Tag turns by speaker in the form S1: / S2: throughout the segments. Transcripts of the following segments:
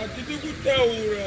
S1: Atende kutaura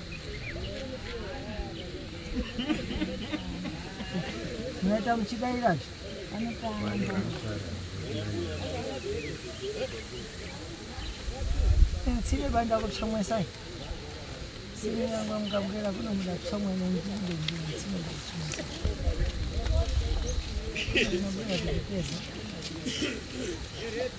S1: Mwaita muchidaira zve. Tsine banda kutsomwesai. Tsine yangu mukabwera kuno muda kutsomwa nendinge ndinge tsine kutsomwesa. Mabwera kuchipeza.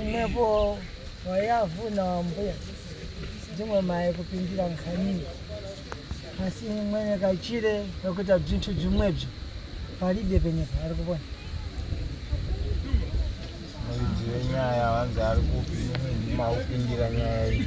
S1: imwepo wayavhuna wambuya ndimwe maye kupindira nkhani asi mwene kachire kakuita bzintu bzimwebzo palibe penye paari kupona
S2: muridzi wenyaya wanzi ari kupi ndimaupindira nyaya iyi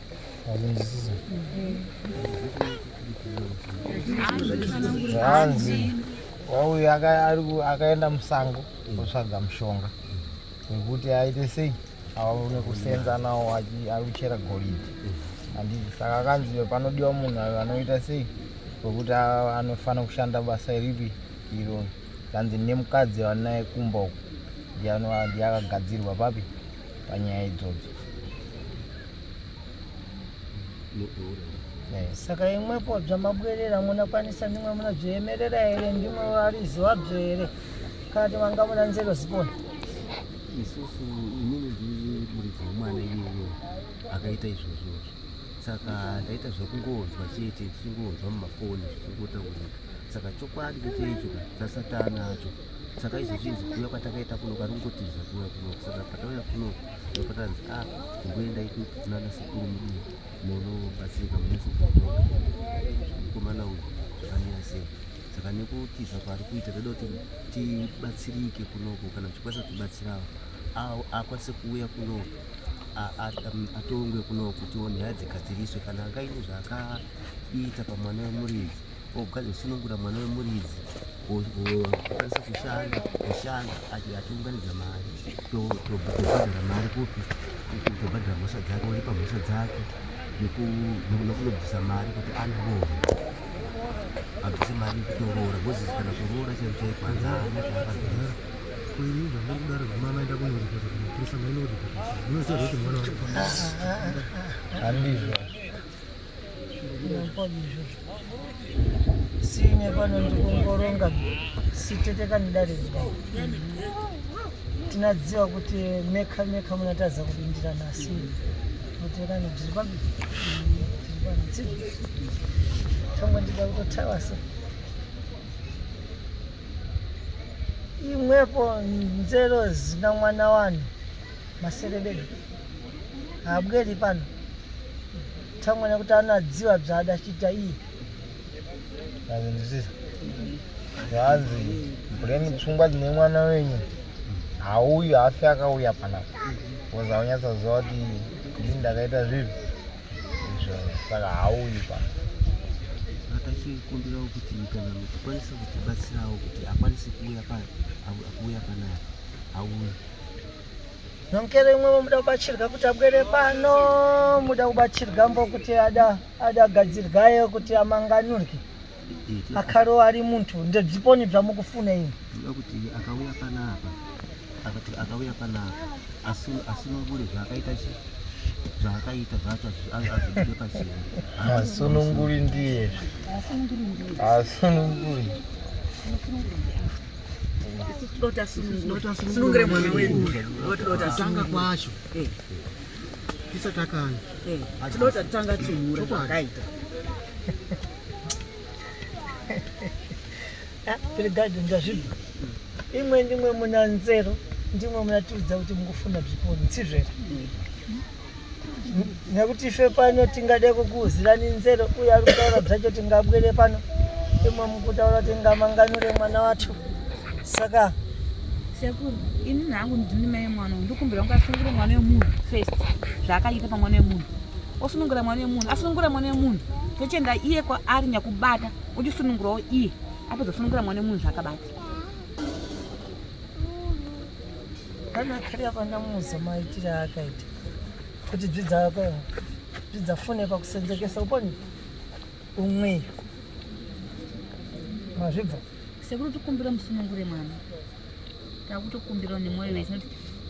S2: zvanzi wauyu akaenda musango otsvaga mushonga wekuti aite sei aone kusenza nawo akuchera goridhe handii saka akanzi panodiwa munhu ayo anoita sei wekuti anofanira kushanda basa ripi iro kanzi nemukadzi anaye kumba uku ndiye akagadzirwa papi panyaya idzodzo
S1: eh, saka imwepo bzamabwerera munakwanisa ndimwe munazviemerera here ndimwe variziva bzo here kana ti vanga muna nzero zipona isusu
S3: inini ndiri muridzi wemwana iyeyo akaita izvozvozvo saka ndaita zvekungonzwa chete ndichingonzwa mumafoni zvichingotaurika saka chokwadi chete icho zvasatana acho saka izvi zvinzi kuuya kwatakaita kuno kari kungotiza kuuya kuno saka patauya kuno ndopatanzi a ah, kumboenda iko kunana sekuru mudii monobatsirika mune sekuru mukomana uyu zvakamira sei saka nekutiza kwaari kuita toda kuti tibatsirike kunoko kana tichikwanisa kutibatsirawo akwanise kuuya kuno atongwe kuno kutiwo nyaya dzigadziriswe kana angaine zvaakaita pamwana wemuridzi Ukadzi usunungura mwana wemuridzi ukwanisa kushanda kushanda atiunganidza mari tobhadhara mari kupi tobhadhara mhosva dzake oripa mhosva dzake nekunobvisa mari kuti anoroora abvise mari yekutoroora ngozisi kana kuroora chero chai kwanza aana chaakabvisa kuini zvamuri kudaro zvimama enda kunoripota kumaprisa mainooripota zvinoziva
S2: zvekuti mwana wandizvo
S1: sine pano ndikungoronga sitete kanidaridzwa tinadziva kuti meka meka munatadza kupindira nasi kuti kani tiri papi tiri panzi tango ndida kutotaura so imwepo nzero zina mwana wanhu maserebelo haabweri pano tamwana kuti anoadziwa bzada achiita iye azindisiza
S2: zvaanzi mbuleni pfungwa dzine mwana wenyu hauyu haafi akauya panapa bcause aunyatsaziva kuti ndii ndakaita zvinhu izvo saka hauyu pano tachikumbirawo
S3: kuti kana mukukwanisa kutibatsirawo kuti akwanise kuuya pano akuuya panapa auya
S1: Nomkere imwe muda kubatsirwa kuti abwere pano muda kubatsirwa mbo kuti ada ada gadzirwayo kuti amanganurwe akaro ari muntu ndedziponi dzamukufuna ini ndoda kuti akauya
S3: panapa akati akauya panapa asi asi nobure
S2: zvaakaita chi zvaakaita zvacho azvide pachii asununguri ndiye asununguri
S4: sunungire mwana wedu tanga
S5: kwacho eh. tisatakana eh. tinoda tatanga
S4: timura zvakaita
S1: ah, pirigadi ndazvibva imwe ndimwe muna nzero ndimwe munatiudza kuti mukufunda bzipo ntsizvera mm. nekuti ife pano tingade kukuuzirani nzero uye ari kutaura bzacho tingabwere pano imwe mukutaura kuti ngamanganure mwana wacho saka
S4: sekuru ini nangu ndini mai mwana ndikumbira kunge asunungure mwana wemunhu first zvaakaita pamwana wemunhu osunungura mwana wemunhu asunungura mwana wemunhu tochienda iye kwaari nyakubata uchisunungurawo iye apedza kusunungura mwana wemunhu zvaakabata
S1: Kana kari apa ndamuudza maitire aakaita kuti dzidza yako dzidza fone pakusenzekesa uponi umwe mazvibva sekuru tikumbira
S4: musunungure mwana takutokumbirawo nemwoyo wese kuti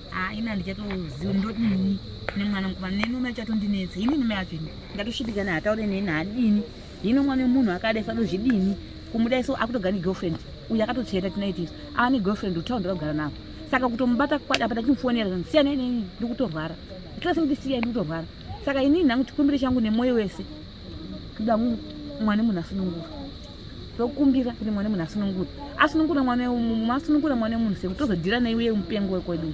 S4: haina ah, ndichatoziva ndodini nemwana mukomana neni ume achatondinetsa inini ume yacho ini ndatoshitikana hataure neni hadini hino mwana wemunhu akadai sadozvidini kumudai so akutoga negirlfriend uyu akatotsveta tonight isu ava negirlfriend utown ndakagara navo saka kutomubata kwadi apa ndachimufonera zvanzi siyana inini ndiri kutorwara itlasi kuti siya ndiri kutorwara saka inini nhangu chikumbiro changu nemwoyo wese kuda mwana munhu asunungura tokumbira kuti mwana munhu asunungura asunungura mwana masunungura mwana wemunhu sekuti tozodhira naiuye mupengo wekwedu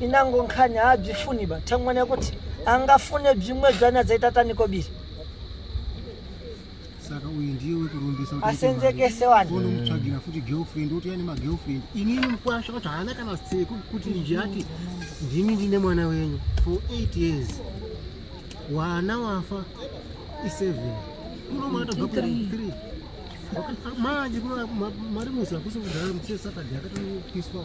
S1: inango nkhani haadzifuni ba tangwana kuti angafune bzimwe bzana dzaita taniko biri saka
S5: uyu ndiye wekurumbisa asenzekese
S1: wanomutsvagira futi girlfriend
S5: oti yani magirlfriend inini mukwasha wacho haana kana seko kuti ndichati ndimi ndine mwana wenyu for 8 years wana wafa i7 kunomatobva kuri 3 manje mari musi hakusi kudhara muchesatadhi akatopiswa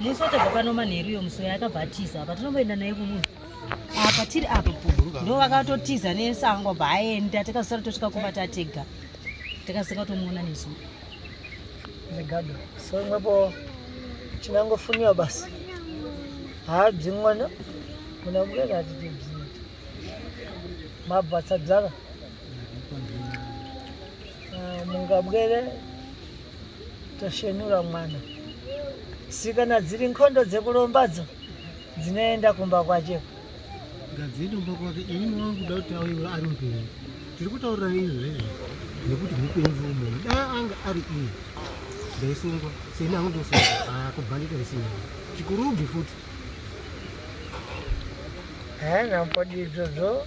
S4: Musi wachabva pano manheru iyo musi yakabva atiza apa tinomboenda naye kumunhu apa tiri apa ndo vakatotiza nesango bva aenda takazosara tosvika kumba tatega takasika tomuona nesu
S1: zvigado so imwepo chinangofuniwa basi haabzi mwana kuna mukana atitibzi mabvatsa dzaka ah, mungabwere Toshenura mwana. Si kana dziri nkondo dzekulombadzo dzinoenda kumba kwacho. Ngadziende
S5: kumba kwake ini mwana kuda kuti auye ari mupenyu. Tiri kutaurira nei izvezvi nekuti mupenyu mumwe. Dai anga ari iye. Ndaisungwa. Seni hangu ndosungwa. Ah kubhandita isina. Chikurubi futi.
S1: Eh, nampodizvo zvo.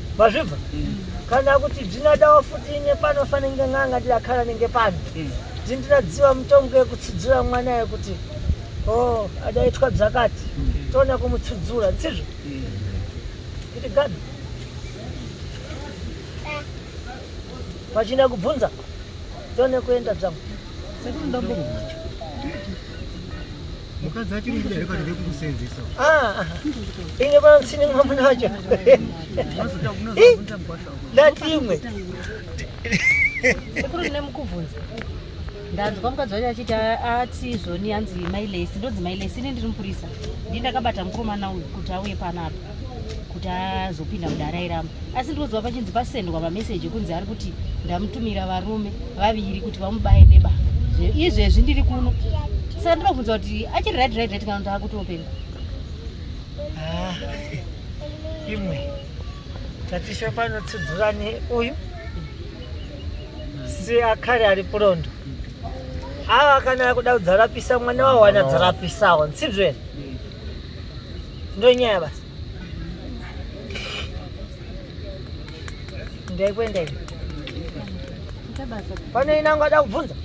S1: mazvibva kana kuti bzinadawo futi ine pano fanenge nganga ndidakhala nenge pano dzindinadziwa mutongo yekutsudzura mwana yekuti o oh, adaitwa bzakati toona kumutsudzura tsizvo kuti gabi vachina kubvunza tone kuenda dzangu
S5: Mukadzi achiri muda here kana vekukusenzesa? Ah,
S1: ine vansi nimwe munacho. Unozoda unozobvunza mugwasha. Ndatimwe.
S4: Sekuru ndine mukubvunza. Ndanzwa mukadzi wacho achiti ati izvoni hanzi mailesi ndonzi mailesi ine ndiri mupurisa. Ndini ndakabata mukomana uyu kuti auye panapa. kuti azopinda mudare airamba asi ndinoziva pachinzi pasendwa mameseji ekunzi ari kuti ndamutumira varume vaviri kuti vamubaye nebanga izvezvi ndiri kuno saka ndinobvunza kuti achiri right right right kana kuti akutopenga ah,
S1: imwe tatisho panotsudzurani uyu si akare ari purondo ava kana akuda kudzarapisa mwana wawana dzarapisawo nsibzvere Ndonyaya basi. Ndaikwenda hivi. Pane ina ngada kubvunza.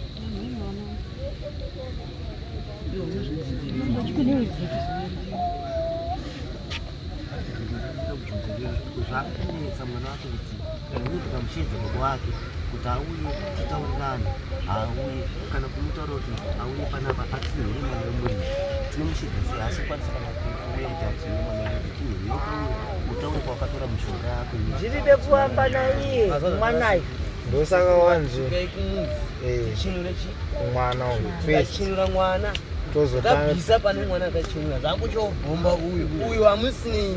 S3: Zvakunetsa mwana kuti ndinobika mushedza baba wake kuti auye titaurirane auye kana kumutaura kuti auye panapa atsinhire mwana wemuridzi tine mushedza sei asi kwanisa kana kuuya kuti atsinhire mwana wemuridzi tinhire tauye utaure kwawakatora mushonga yako zviride kuamba
S1: naiye mwanayo ndosaka
S2: wanzi mwana uyu kwechinura
S6: mwana tozotanga pane mwana akachinura zvakuchobhomba uyu uyu hamusinei